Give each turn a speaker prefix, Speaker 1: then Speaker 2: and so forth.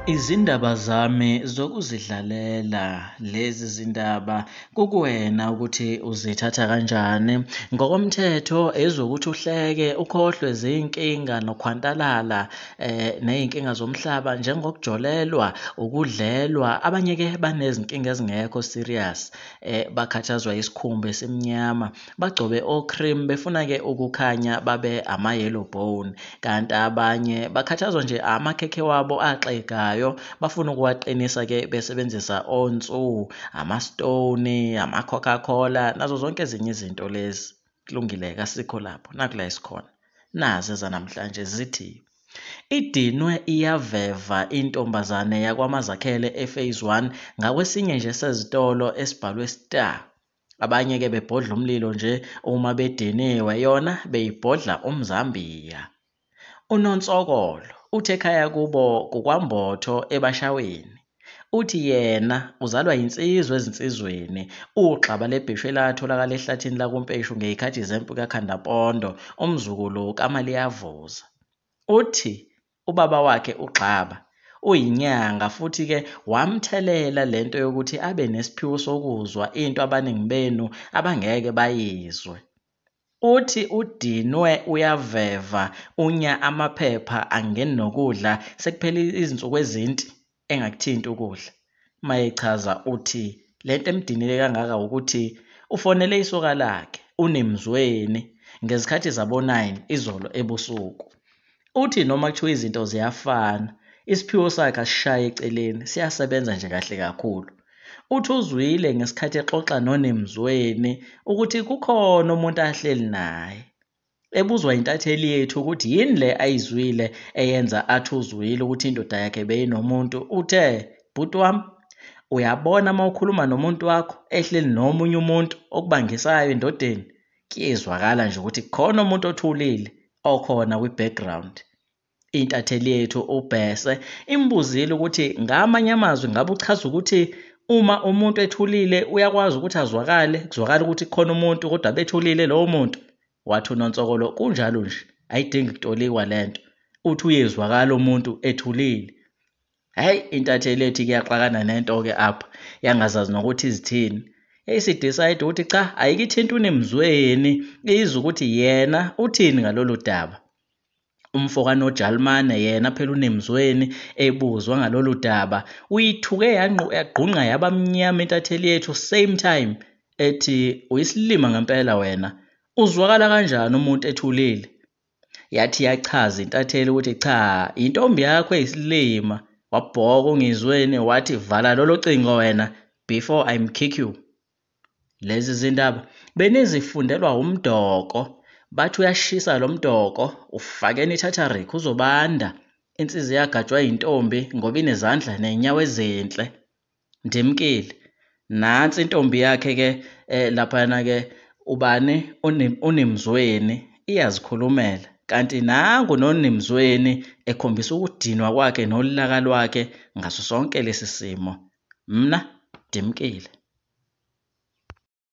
Speaker 1: Izindaba zami zokuzidlalela lezi zindaba kukuwena ukuthi uzithatha kanjani. Ngokomthetho ezokuthi uhleke ukhohlwe zinkinga nokhwantalala eh nezinkinga zomhlaba njengokujolelwa ukudlelwa abanye ke banezinkinga ezingekho serious eh bakhathazwa isikhumba esimnyama bagcobe ocream befuna ke ukukhanya babe ama yellow bone kanti abanye bakhathazwa nje amakhekhe wabo axegayo bafuna ukuwaqinisa ke besebenzisa onsu ama stone ama coca cola nazo zonke ezinye izinto lezi kulungile kasikho lapho nakula isikhona nazi ezanamhlanje zithi Idinwe iyaveva intombazane yakwaMazakhele ePhase One ngakwesinye nje sezitolo esibhalwe Star. Abanye-ke bebhodla umlilo nje uma bediniwe, yona beyibhodla umzambiya. UNonsokolo uthi ekhaya kubo kukwaMbotho eBashaweni. Uthi yena uzalwa yinsizwa ezinsizweni, uwugxaba lebheshu elatholakala ehlathini lakuMpeshu ngezikhathi zempi kaKhandampondo, umzukulu kaMaliyavuza. Uthi ubaba wakhe uGxaba uyinyanga futhi ke wamthelela lento yokuthi abe nesiphiwo sokuzwa into abaningi benu abangeke bayizwe. Uthi udinwe uyaveva unya amaphepha angeni nokudla sekuphele izinsuku ezinti engakuthinti ukudla. Mayechaza uthi lento emdinile kangaka ukuthi ufonele isoka lakhe uNemzweni ngezikhathi zabo 9 izolo ebusuku. Uthi noma kuthiwa izinto ziyafana, isiphiwo sakhe asishaye eceleni, siyasebenza nje kahle kakhulu. Uthi uzwile ngesikhathi exoxa noNemzweni ukuthi kukhona umuntu ahleli naye. Ebuzwa intatheli yethu ukuthi yini le ayizwile eyenza athi uzwile ukuthi indoda yakhe beyinomuntu, uthe, Bhuti wami, uyabona uma ukhuluma nomuntu wakho ehleli nomunye umuntu okubangisayo endodeni, kuyezwakala nje ukuthi khona umuntu othulile okhona kwi-background intatheli yethu ubhese imbuzile ukuthi ngamanye amazwi ngabe uchaza ukuthi uma umuntu ethulile uyakwazi ukuthi azwakale kuzwakala ukuthi khona umuntu kodwa bethulile lowo muntu wathi unonsokolo kunjalo nje ayidingi kutolikwa le nto uthi uyezwakala umuntu ethulile Hhayi intatheli ethi kuyaxakana nento-ke apha yangazazi nokuthi izithini. Eyisidicide ukuthi cha ayikithinti uNemzweni izwe ukuthi yena uthini ngalolu daba. Umfo kanoJalimane yena phela uNemzweni ebuzwa ngalolu daba uyithuke yagqunqa yaba mnyama intatheli yethu same time ethi uyisilima ngempela wena. Uzwakala kanjani umuntu ethulile? yathi yachaza intatheli ukuthi cha intombi yakho eyisilima wabhoka ungizweni wathi vala lolo cingo wena before i kick you lezi zindaba benizifundelwa umdoko bathi uyashisa lo mdoko ufakeni ithatharik uzobanda insizi yagajwa yintombi ngoba inezandla nenyawo ezinhle Ndimkile. Nantsi intombi yakhe ke eh, laphayana ke ubani uNim- unimzweni iyazikhulumela kanti nangu nonimzweni ekhombisa ukudinwa kwakhe nolaka lwakhe ngaso sonke lesi simo mna ndimkile